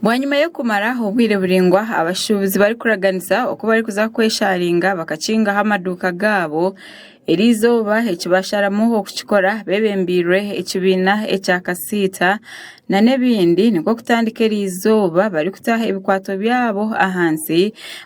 Bwanyima y'okumara obwire buraingwa abashuubuzi barikuraganisa oku barikuza kweshaaringa bakakingaho amaduuka gaabo, erizooba eki baasharamu okukikora bebembeirwe ekibiina ekya kasiita nana ebindi nikwo kutandika erizooba barikutaho ebikwato byaabo ahansi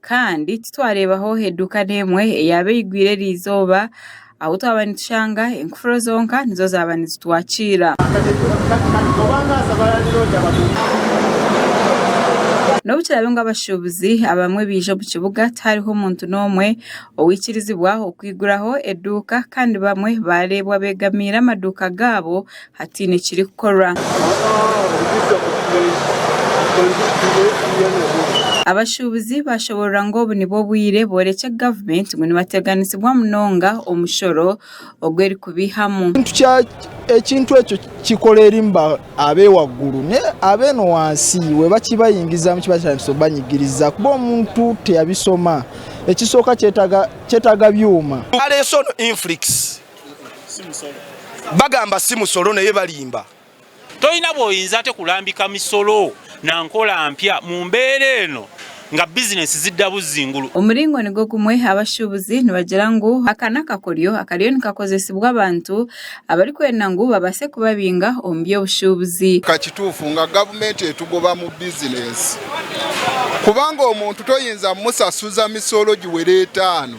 Kandi titwareebaho eduuka n'emwe eyaaba eigwire eri izooba ahu twaba nitushanga enkufuru zonka nizo zaaba nizitwakiira. N'obu kiraabe ngu abashuubuzi abamwe baija omu kibuga tihariho muntu n'omwe owaikirizibwa okwiguraho eduuka kandi bamwe baareebwa beegamiire amaduuka gaabo Hatiine ekirikukorwa. Abashuubuzi baashoboorora ngu obu nibwo bwire boorekye gavumenti ngu nibateganisibwa munonga omushoro ogu erikubaihamu. Ekintu ekyo kikora eri ab'ewagguru n'abeene wansi iwe bakibaingirizamu kibatandisa kubanyigiriza kuba omuntu tiyabisoma. Ekisooka kyetaaga byoma. Bagamba si musolo naye balimba. Tolina bw'oyinza ate kulambika misolo na nkola mpya mu mbeera eno nga bizinensi zidda buzzi ngulu. Omuringo nigwo gumwe abashuubuzi nibagira ngu aka n'akakoryo akariyo nikakozesibwa abantu abarikwenda ngu babaase kubabinga omu by'obushuubuzi. Ka kituufu nga gavumenti etugoba mu bizinensi kubanga omuntu toyinza musasuza misolo giwera etaano.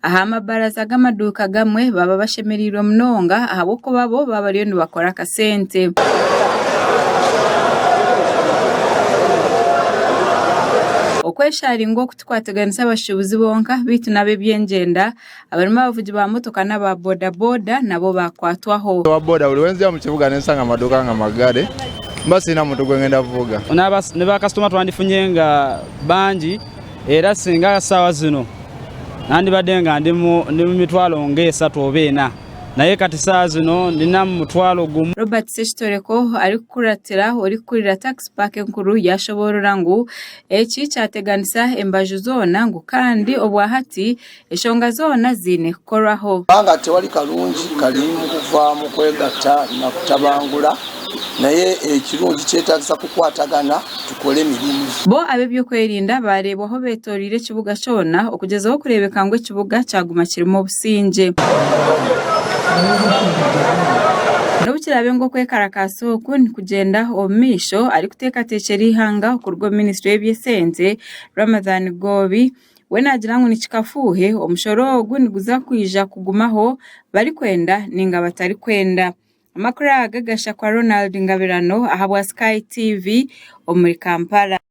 Aha mabaraza g'amaduuka agamwe baba bashemereirwe munonga ahabw'okuba bo baba bariyo nibakora akasente. Okwesharinga oku tikwatiganisa abashuubuzi bonka beitu n'ab'ebyengyenda, abarimu abavugi ba motoka n'aba bodaboda nabo bakwatwaho. Owa boda buri wenziya omu kibuga nensanga amaduuka nga magare mba siine muntu gwengenda kuvuga. Niba kasitoma twandifunye nga bangi. Era singa aha shaawa zinu nandibade nga ndi mu mitwaro nga esatu oba ena, naye kati shaaha zinu ndi namu mutwaro gumu. Robert Sekitoreko arikukuratira orikukurira Tax Park enkuru yashoborora ngu eki kyateganisa embaju zoona ngu kandi obwahati Eshonga zoona ziine kukorwaho. Kubanga tewali karungi karimu kuva mu kwegatta na kutabangura, naye ekirungi kyetaagisa kukwatagana tukore emirimu. Bo ab'eby'okwerinda baareebwaho beetoreire ekibuga kyona okugyezaho kureebeka ngu ekibuga kyaguma kirimu obusingye. N'obu kiraabe ngu okwekarakaasa oku nikugyenda omu maisho, arikuteekateekyera eihanga okuruga omu minisitule y'eby'esente, Ramadhan Ggoobi, We naagira ngu ni kikafuuhe, omushoro ogu niguza kwija kugumaho barikwenda nainga batarikwenda. Amakuru aga gashakwa Ronald Ngabirano ahabwa Sky TV omuri Kampala.